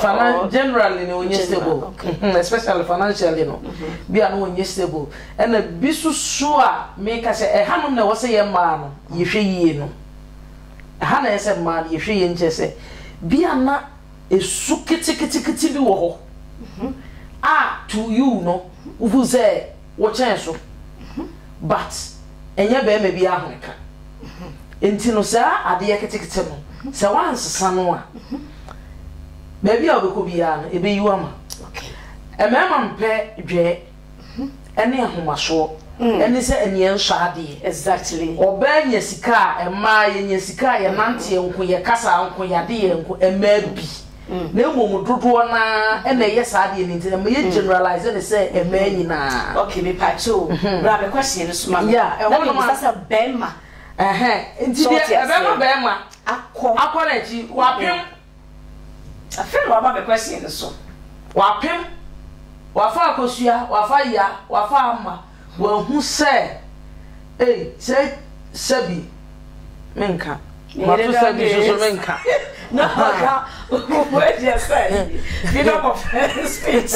finan generally no ɔnyɛ stable mhm, especially financially no mhm. bi a no ɔnyɛ stable ɛna bi susu a meka sɛ ɛha nom na ɛwɔ sɛ yɛ mmaa no yɛhwɛ yie no ɛha na ɛyɛ sɛ mmaa no yɛhwɛ yie nkyɛ sɛ bi a na ɛsu keteketekete bi wɔ hɔ mhm. a to you no wohu sɛ Wo kyɛn so but ɛnyɛ bɛɛma bi ahoreka nti no saa adeɛ ketekete no sɛ woansesa no a baabi a wobɛkɔ biara no ɛbɛyi wo ama mmarima mpɛ dwɛɛ ɛne ahomasoɔ ɛne sɛ ɛneɛ nsɔ adeɛ exactly ɔbaa nya sika a ɛmaa yɛnya sika a yɛnanteɛ nko yɛkasa nko yɛadeɛ nko ɛmaa bi na mmom dodoɔ no ara na ɛyɛ saa adeɛ no nti na meyɛ generalize ne sɛ mmaa nyinaa okay mepakye o bra me question no soma me ɛhɔ no ma sɛ bɛrima nti deɛ ɛbɛma bɛrima akɔ akɔ n'akyi wapem afei na waba me question no so wapem wafa akosua wafa ya wafa ama Wɔahu sɛ, ei, sɛ, sɛbi, menka. Mato sɛ bi nso so menka. Na ɔka ɔkɔfo agya sɛ freedom of speech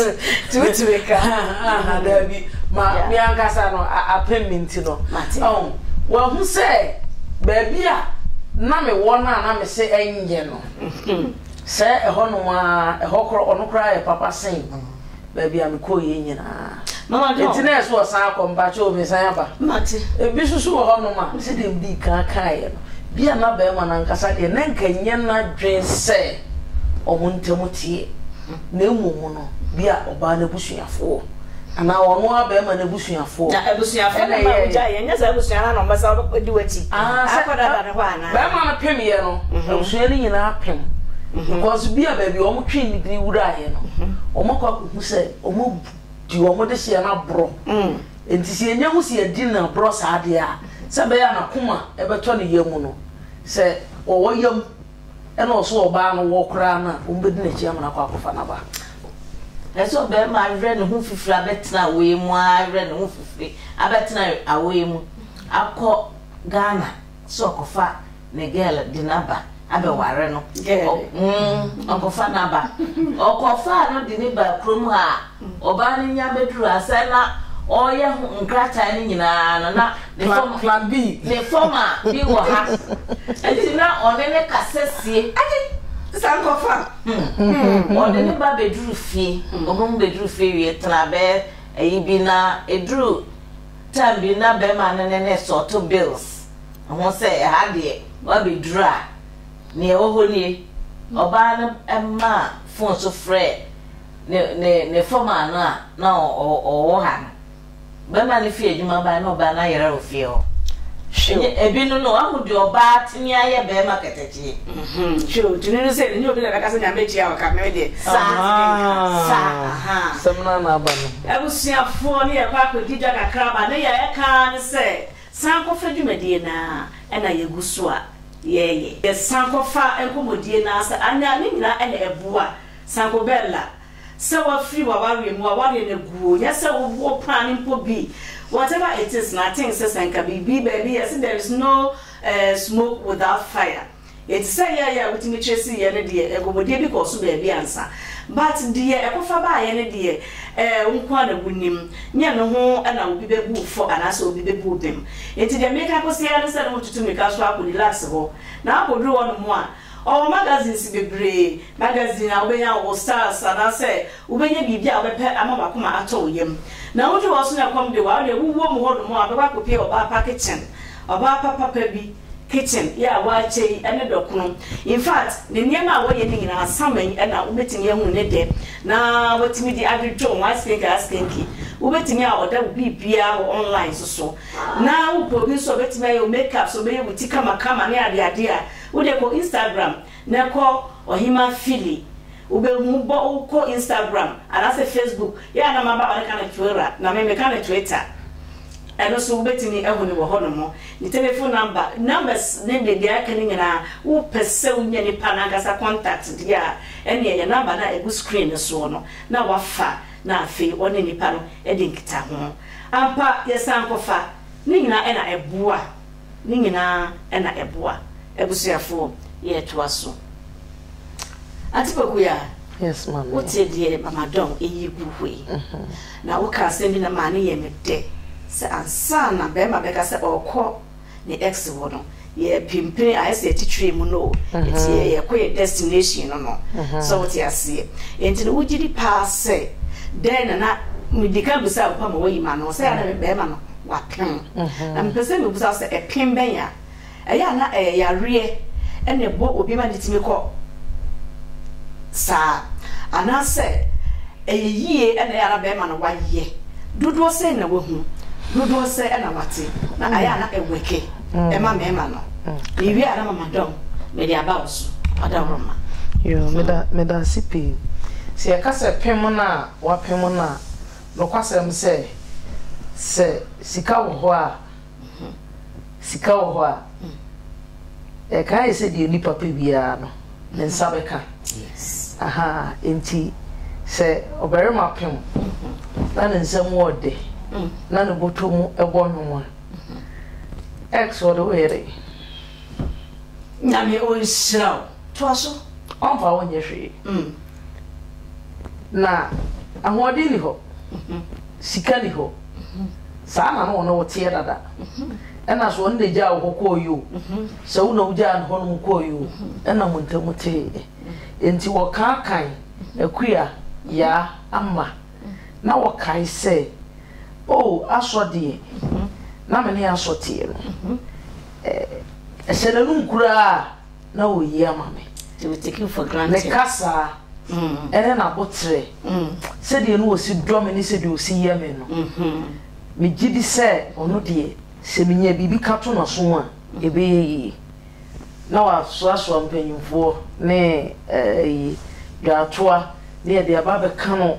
ti wotumi ka. Aha, daabi. Ma me ankasa no apem me nti no. Oh, wɔahu sɛ baabi a na mewɔ no a na me se ɛnyɛ no. Sɛ ɛhɔ nom a, ɛhɔ korɔ, ɔno koraa yɛ papa sen. baabi a mekɔɔ yɛ nyinaa ɛti na ɛso ɔsan akɔ mpakyɛ o mesan aba ebi soso wɔ hɔnom a sɛ deɛ mdi kan kaeɛ no bi a na bɛrima no ankasa deɛ na nka nyɛ n'adwen sɛ ɔmo ntam teɛ na mmom no bi a ɔbaa no abusuafoɔ anaa ɔno a bɛrima no abusuafoɔ na abusuafoɔ no ma wogya yɛ nyɛ sɛ abusua no na ɔmbɛsa di w'akyi akɔdada ne hɔ ana Bɛɛma no pem yɛ no abusua no nyinaa pem because bia baabi a wɔn twe ne biri wura yɛ no wɔn akɔ akɔhu sɛ wɔn abu di wɔn de seɛ no aborɔ nti sɛ yɛnya hu sɛ yɛdi no aborɔ saa deɛ a sɛ bɛyɛ a nakoma ɛbɛtɔ ne yam no sɛ wɔwɔ yam ɛna ɔso ɔbaa no wɔ koraa no a wɔn bɛdi n'akyi ama no akɔ akɔfa n'aba ɛsɛ ɔbɛrima awerɛ ne ho fifiri abɛtena awoe mu awerɛ ne ho fifiri abɛtena awoe mu akɔ ghana sɛ ɔkɔfa ne girl de no aba abɛware no, ɔkɔfa no aba, ɔkɔfaa no de no baa kurom ha a, ɔbaa no nya bɛduru ha sɛ na ɔreyɛ ho nkrataa no nyinaa no na ne fam plan B ne fam a bi wɔ ha nti na ɔne ne kasa sie agye sɛ nkɔfa hmm. ɔde ne ba bɛduru fie ɔbɛmu bɛduru fie wie tena bɛɛ ayi bi na ɛduru Time bi na bɛrima no ne ne sɔɔto bills ho sɛ ɛha deɛ woabɛduru a, nea ɛwɔ hɔ nie. Ɔbaa no maa phone so frɛɛ ne ne ne foreman no a na ɔwɔ ha no. Bɛrima no fii adwuma bae na ɔbaa no ayera wɔ fie hɔ. Hwɛ o! Ɛnyɛ ebinom no, woahu deɛ ɔbaa tumi ayɛ bɛrima kɛtɛ. Hwɛ o, tumi no sɛ ɛnyɛ obi na ɛbɛka sɛ Nyame atua wo ka, me deɛ saa na metumi nka, saa, ahaa. Asɛm no ara na aba no. Abusuafoɔ ne yɛn kɔ akɔdi dwa kakra ba ne yɛ ɛka ara ne sɛ san kɔfa dwumadie no ara ɛna yɛgu so a yɛɛyɛ. Yɛ san kɔfa nkɔmmɔdie no ara sɛ anaa ne nyinaa ɛna ɛboa. San kɔ Bella, sɛ wafiri w'awareɛ mu a awareɛ no agu o, nyɛ sɛ woboɔ paa no mpo bi, whatever it is no, I think sɛ sɛ nka biribi baabi yɛse there is no. Ɛɛ smoke without fire yɛ te sɛ yɛɛyɛ a wotumi kyerɛ si yɛ no deɛ ɛgɔmɔdeɛ bi kɔɔ so baabi ansa but deɛ ɛkɔfa baayɛ no deɛ ɛɛ wo nko ara na wonim nyɛ no ho na obi bɛbu wo fɔ anaasɛ obi bɛbu wo bem nti deɛ meka kɔsi ara ne sɛ na wotutu mmirika so akɔ deluxe hɔ na akɔduru hɔ nom a ɔwɔ magazines bebree magazine a wobɛnya wɔ stars anaasɛ wobɛnya biribi a wobɛpɛ ama wakoma atɔ wo yam na woduru hɔ so na ɛkɔm de wo a wodeɛ wowɔ mu hɔ nom a wobɛkɔ akɔpie ɔbaa pa kitchen Ɔbaa papapa bi kitchen yɛ a w'akyɛ yi ne dɔkono in fact ne nneɛma a wɔyɛ ne nyinaa sama yi na wobɛtumi ahu ne dɛ na watumi de adwodwo ho askenke askenke wobɛtumi a ɔda wo biribiaa wɔ online so so na wopɛ obi nso a obɛtumi ayɛ wo makeup so ɔbɛyɛ wo ti kama kama ne adeade a wodeɛ kɔ Instagram Na kɔ ɔhema fili wobɛhu bɔ wokɔ instagram anaasɛ facebook yɛ a na maba ɔne ka no twilra na me meka no twita ɛno so wobɛtumi ahu no wɔ hɔ nom ne telefon namba numbers ne ne deɛ aka no nyinaa wopɛ sɛ wonya nipa no ankasa contact deɛ a ɛne ɛyɛ namba no a ɛgu screen no soɔ no na wafa na afei ɔne nipa no ɛde nkita ho ampa yɛ san kɔfa ne nyinaa ɛna ɛboa. ne nyinaa na ɛboa abusuafoɔ yɛ ɛtoa so Ate Pokuyaa? Yes maame. Wo te deɛ mama Dɔn ɛyi gu hɔ yi na wo ka asɛm bi na maa ne yɛ me dɛ sɛ ansa na bɛɛma bɛka sɛ ɔɔkɔ ne ex hɔ no yɛ pimpini ayɛ sɛ yɛte train mu no o ɛti yɛ yɛ kɔ yɛ destination no no sɛ wo te aseɛ ɛnti no wo gyidi paa sɛ dɛn na na medika bisa wo pa ma wayi ma no sɛ yɛ na bɛɛma no wapem. Na mepɛ sɛ mebisa wo sɛ ɛpem bɛn a ɛyɛ a na ɛyɛ yareɛ ɛna ɛbɔ obi ma ne tumi kɔ saa anaasɛ ɛyɛ yie ɛna ɛyɛ a na bɛrima no wayɛ dodoɔ sɛ na wahu dodoɔ sɛ ɛna wate na ɛyɛ a na ɛwɛke ɛma mmarima no mewie a na mama dɔm mede aba wo so ɔda wo ma yo meda meda ase pii sɛ yɛka sɛ pem no a wapem no a Nokwasɛm sɛ, sɛ sika wɔ hɔ a, sika wɔ hɔ a, ɛka ayɛ sɛ deɛ onipa pɛ biara no, ne nsa bɛka. Ahaa, enti sɛ ɔbarima pem na ne nsa mu wɔ dɛ na ne bɔtɔ mu bɔ nwom a, ex wɔ de woyɛ dɛn? Nyame ɔnhyira wo. Toa so. Ɔmfa wo nyɛ hwee. Na ahoɔden nni hɔ, sika nni hɔ. Saa na na ɔne wo teɛ dada. Ɛna so ɔno na egyaa wo hɔ kɔeɛ o, sɛ wo na wogyaa no hɔnom kɔeɛ o, ɛna mo ntam teeɛ. Enti wɔkaa kan Akua, Yaa, Amma, na wɔkae sɛ, O Asɔ deɛ na me ne Asɔ teɛ no. Ɛhyɛ n'anom koraa. na wɔyi ama me. They were taken for granted. Me kasa, ɛne n'aboterɛ, sɛdeɛ na ɔsi dɔ me ne sɛdeɛ ɔsi yɛ me no, megye di sɛ ɔno deɛ sɛ menya biribi ka to n'aso mu a, ɛbɛyɛ yie. Na wasoasoa mpanyimfoɔ ne ɛyi dwaatoa ne ɛde aba abɛka no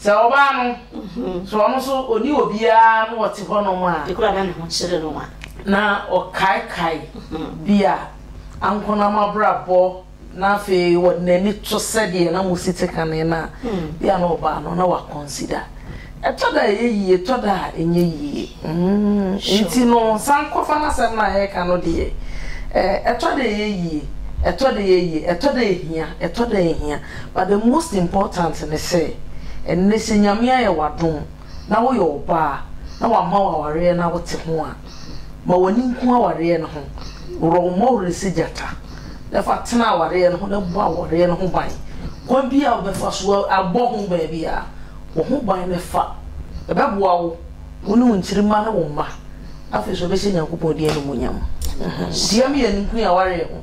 Sɛ ɔbaa no, so ɔno nso ɔni obiara na ɔte hɔnom a. Ekura na ne ho kyerɛ no a. Na ɔkaekae bi a ankonam abrabɔ na afei ɔde n'ani to sɛdeɛ na mo si te kane no a, bi a na ɔbaa no na wakɔnsida. Ɛtɔ da a ɛyɛ yie, ɛtɔ da a ɛnyɛ yie. Nti no, Sankɔfa no asɛm no a yɛreka no deɛ, ɛtɔ da ɛyɛ yie, ɛtɔ da ɛyɛ yie, ɛtɔ da ɛhia, ɛtɔ da ɛhia. but the most important ne sɛ ɛnnɛ sɛ Nyame ayɛ wo adom na woyɛ ɔbaa na wama wo awareɛ na wote ho a, ma w'ani nku awareɛ no ho, worɔ wo mmɔ werɛ sɛ gyata, na fa tena awareɛ no ho na bɔ awareɛ no ho ban, kwan biara a wobɛfa so abɔ ho ban biara, bɔ ho ban na fa, ɛbɛboa wo, wo ne wo nkyirimma ne wo mma, afei nso wobɛhyɛ Nyankopɔn din animuonyam. Hyia mmienu nko yi awareɛ ho.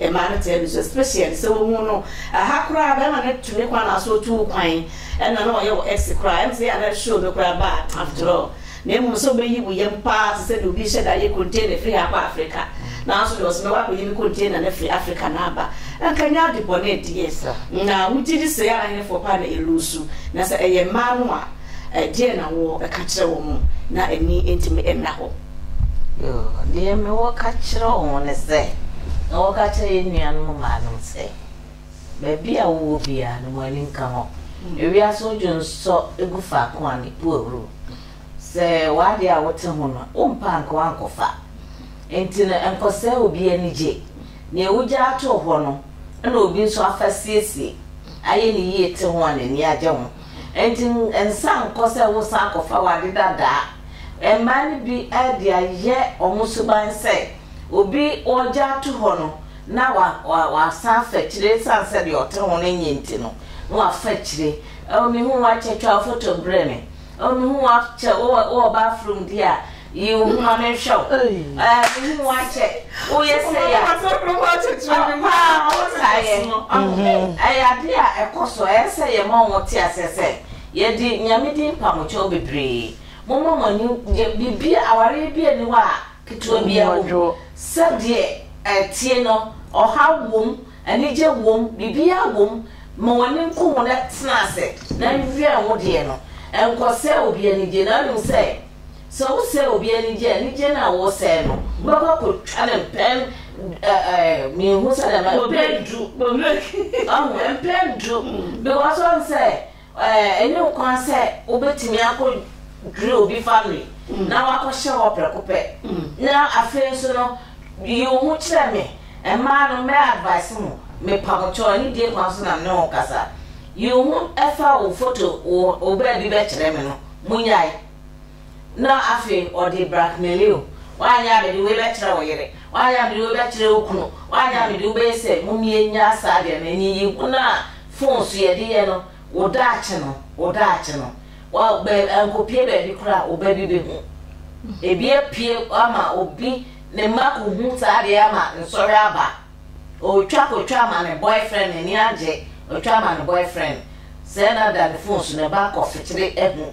Mmaa no taa bisa especially sɛ wohu no ɛha koraa bɛrima no tu ne kwan anaa so otu wo kwan ɛna na ɔyɛ wɔ ex koraa ɛm sɛ yɛ anaa show no koraa bad after all na mmom sɛ ɔbɛyi wo yam paa te sɛ deɛ obi hyɛ da yɛ container firi ha kɔ Africa nanso deɛ ɔsɛ mɛwɔ akɔyi ne container no firi Africa na aba ɛnka nyɛ ade bɔne deɛ na wogye di sɛ yɛ anaa henefoɔ paa na ɛlusu na sɛ ɛyɛ mmaa no a ɛdeɛ na wɔ ɛka kyerɛ wɔn na ani ntumi nna hɔ. Yoo, deɛ mewɔ ka kyerɛ wɔn ne sɛ, na wɔka kyerɛ yɛn nuanom mbaanom sɛ, Baabi a wowɔ biara no, mo ani nka hɔ. Ewiase odwo nsɔ gu faako a ne pue huru. Sɛ w'adeɛ a wote ho no, wompɛ a anka woankɔfa. Enti no, nkɔsɛe obi anigye. Nea wugya ato hɔ no na obi nso afa asiesie, ayɛ no yie te ho a n'ani agye ho. Enti nsan nkɔ sɛ woresan akɔfa w'ade dadaa. Mmaa no bi de ayɛ wɔn suban sɛ obi wɔgya ato hɔ no na wasan afa akyire ɛsiane sɛ deɛ ɔte ho no nye nti no na wafa akyire. Ɛwɔ me hu wakyɛ twa wo foto brɛ me. Ɛwɔ me hu wakyɛ wowɔ bathroom di a yi wo homa me nhwɛ wo. Ɛɛ me hu wakyɛ woyɛ sɛ yɛ paa wɔn saa yɛ. Ɛyɛ adeɛ a ɛkɔ so ɛyɛ sɛ yɛ ma wɔn te aseɛ sɛ. Yɛde Nyame din mpamo kyɛw bebree. Momma mo ani nnye biribiara, awareɛ bi nni hɔ a ketewa biara wɔ mu. Sɛdeɛ ɛteɛ no, ɔhaw wom, anigye wom, biribiara wom. Ma w'ani nku ho na tena ase na wɛn wo deɛ no. Nkɔsɛe obi anigye, na wonim sɛ. Sɛ wosɛe obi anigye a, anigye no a woresɛe no, wobɛkɔ akɔtwa no mpɛn du. Menhu sɛdeɛ mɛka no. Mpɛn du. Wahu? Mpɛn du. Because wahu sɛ ɛnyɛ wo kwan sɛ wobɛtumi akɔdwiri obi family na wakɔhyɛ hɔ prɛko pɛ. Na afei nso no, yi wo ho kyerɛ me. Mmaa no, mɛ advice mo, mepa mo kyɛw, anidie kwan so na me ne wo kasa. Yi wo ho fa wo foto, wo baabi bɛkyerɛ me no, monyae. na afei ɔde blackmailio, woanyɛ a mede wei bɛkyerɛ wo yere, woanyɛ a mede wei bɛkyerɛ wo kunu, woanyɛ a mede wo bɛyɛ sɛ momie nya saa deɛ ma nyiyi ho no a phone so yɛde yɛ no wo daakye no wo daakye no wa bɛ ankopie baabi koraa a ɔba bi bɛhu ebi apue ama obi ne mma kɔhu saa deɛ ama nsɔre aba ɔtwa kɔtwa ama ne boyfriend n'ani agye ɔtwa ama ne boyfriend sɛ na da ne phone so ne ba kɔfekyere ahu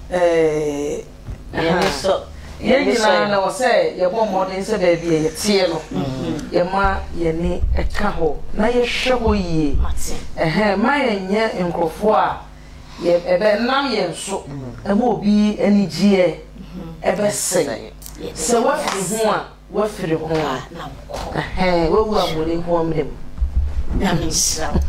Yɛn ani sɔ. Yɛn nyinaa na wɔ sɛ yɛbɔ mmɔden sɛ baabi a yɛteɛ no, yɛma yɛn ani ka hɔ na yɛhwɛ hɔ yie. Mma yɛnyɛ nkurɔfoɔ a ɛbɛnam yɛn so ma obi anigyeɛ bɛsɛe. Sɛ woafiri ho a, W'afiri ho a na mo kɔ. W'awu a mo ni hoɔ mmerɛ mu. Nyame nhyira mo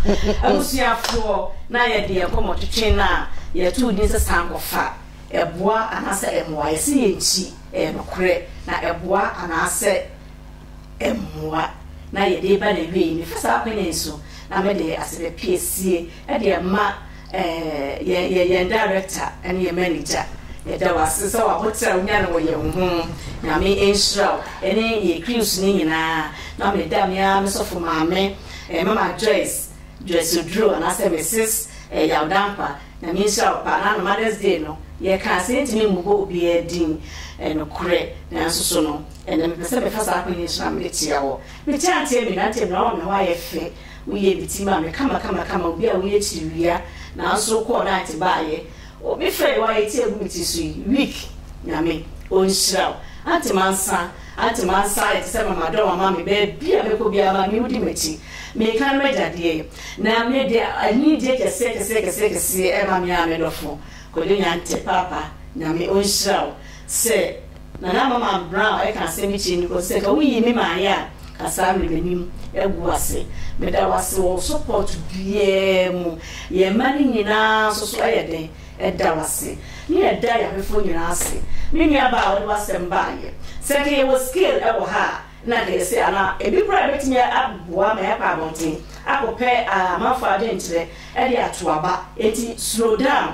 abusuafoɔ na yɛ deɛ kɔ mɔ twetwe no a yɛ too din sɛ san kɔ fa ɛboa anaa sɛ ɛmoa yɛ se yɛ nkyi ɛyɛ nokorɛ na ɛboa anaa sɛ ɛmoa na yɛ de ba na wie yi me fa saa kwan yi so na me de ase bɛ piesie ɛde ɛma Ɛɛ, yɛn, yɛn director ne yɛn manager, yɛda wo ase sɛ w'aboterɛ a wonya no wɔ yɛn ho. Nyame nhyira wo, ne yɛn crews no nyinaa. Na me da me ara me sɔfo maame, eh, Mama Joyce, Joyce Oduro, anaasɛ Mrs. eh, Yaw Dankwa, Nyame nhyira wo paa. Na no Mother's Day no, yɛkaa sɛ yɛntumi mmobɔ obiara din, eh, nokorɛ, nanso so no, ɛnnɛ mepɛ sɛ mefa saa kwan yi so na mede tia wo. Meteanteamina, nteamina wɔ me ho ayɛ fɛ. Woyɛ me ti ma me kamakamakama, obi a woyɛ kyiriwia, nanso wokɔɔ night baayɛ. Obi frɛ yɛ woayɛ ti agu me ti so yi, weak, Nyame ɔnhyira wo. Ante mansa, ante mansa ayɛ te sɛ ma madɔm ama me, baabi a mɛkɔ biara ma me wodi m'akyi. Meka no m'agya deɛ, na me deɛ anidie kɛseɛ kɛseɛ kɛseɛ kɛseɛ ɛma me ara me dɔfo, Kwadwo Nyantɛ, Paapa, Nyame ɔnhyira wo sɛ. Nana Mama Brown ɛka asɛm bi kyerɛ me kɔ sɛ, ka wo yi me maa yɛ a, ka saa mede m'anim agu wo ase. Meda wo ase wɔ wo support biaa mu. Yɛn mma no nyinaa nso so ɛyɛ dɛn ɛda wo ase. Ne yɛ da yɛ awefoɔ nyinaa ase. Me nua baa a wode w'asɛm baa yɛ. Sɛ nka yɛ wɔ scale ɛwɔ ha a, na nka yɛ se anaa ebi koraa ɛbɛtumi aboa ma yɛakɔ abɔnten akɔ pɛ amanfoɔ adwenkyerɛ ɛde ato aba. Enti slow down.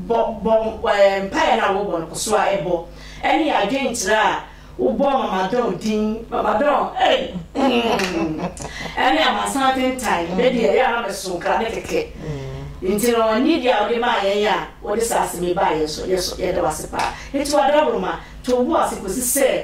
bɔ bɔ ɛɛ mpaeɛ no a wɔbɔ no kɔ so a ɛbɔ ɛne yɛ adwenkyerɛ a wobɔ mamadɔn din mamadɔn ɛy ɛne amansan atentan ne deɛ ɛyɛ a na bɛso nkra ne kɛkɛ nti no ne deɛ a wɔde maa yɛn a wɔde saa asɛm yi baa yɛn so yɛda wase paa nti wadaworo ma to wo ase kɔsi sɛ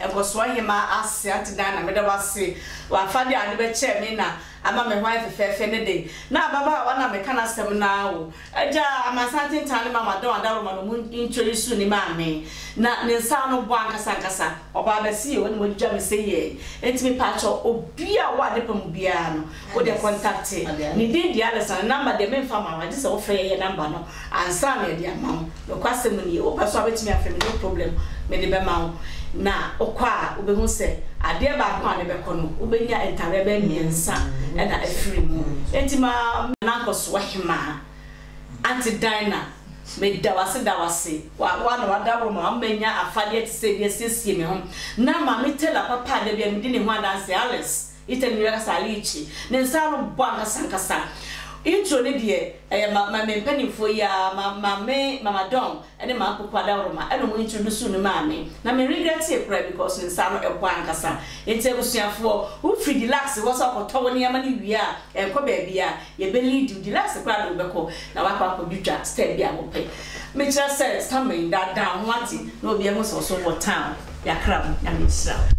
Nkɔsoɔ nye ma Aseante Dan na meda wo ase wɔ afade a wode bɛkyɛɛ me na ama me ho ayɛ fɛfɛɛfɛ ne de na ababaawa no a meka n'asɛm no ara o Agya Amansan Atentan ne Mama Dɔn Adaworoma no mu ntwerɛ yi suu ne maame na ne nsa ano bɔ ankasa ankasa ɔbaa bɛse yɛ wɔn na wɔadwidwa me sɛ yɛɛ enti mepaakyɛw obi a ɔwɔ adepa mu biara no Wo deɛ kɔntakte ne din deɛ alesa no number deɛ memfa mma wo agye sɛ wofrɛ yɛyɛ number no ansa na yɛde ama wo nokwasɛm nie wopɛ nso a wobɛtumi afrɛ me no problem mede bɛma wo na wokɔ a wobɛhu sɛ adeɛ baako a wobɛkɔ no wobɛnya ntareɛ bɛyɛ mmiɛnsa na afiri mu enti ma Nankosoa hemaa Aunty Dinah meda wo ase da wo ase wa wo a na wada hɔ ma ma manya afadeɛ te sɛ bi asiesie me ho na maame Taylor papa a da biara medi ne ho adanseɛ Alice Ethan nua kasa Alice ne nsa ano bɔ ankasa ankasa intro ne deɛ ɛyɛ ma ma me mpaninfoɔ yi aa ma maame mama Dawn ne maa Poku Adaworoma ɛna ɔmo introduce ne maa me na me regretee koraa because ne nsa ano ɛbɔ ankasa nti abusuafoɔ wo firi Deluxe hɔ sɛ ɔkɔtɔ wo nneɛma no wie a ɛnkɔ baabia yɛbɛ lead wo Deluxe koraa de wobɛkɔ na wakɔ akɔ dwitwa style bi a wopɛ me kyerɛ sɛ Stammen daadaa ho ate na obiara hu sɛ ɔso wɔ town yakra mo Nyame nhyira wo.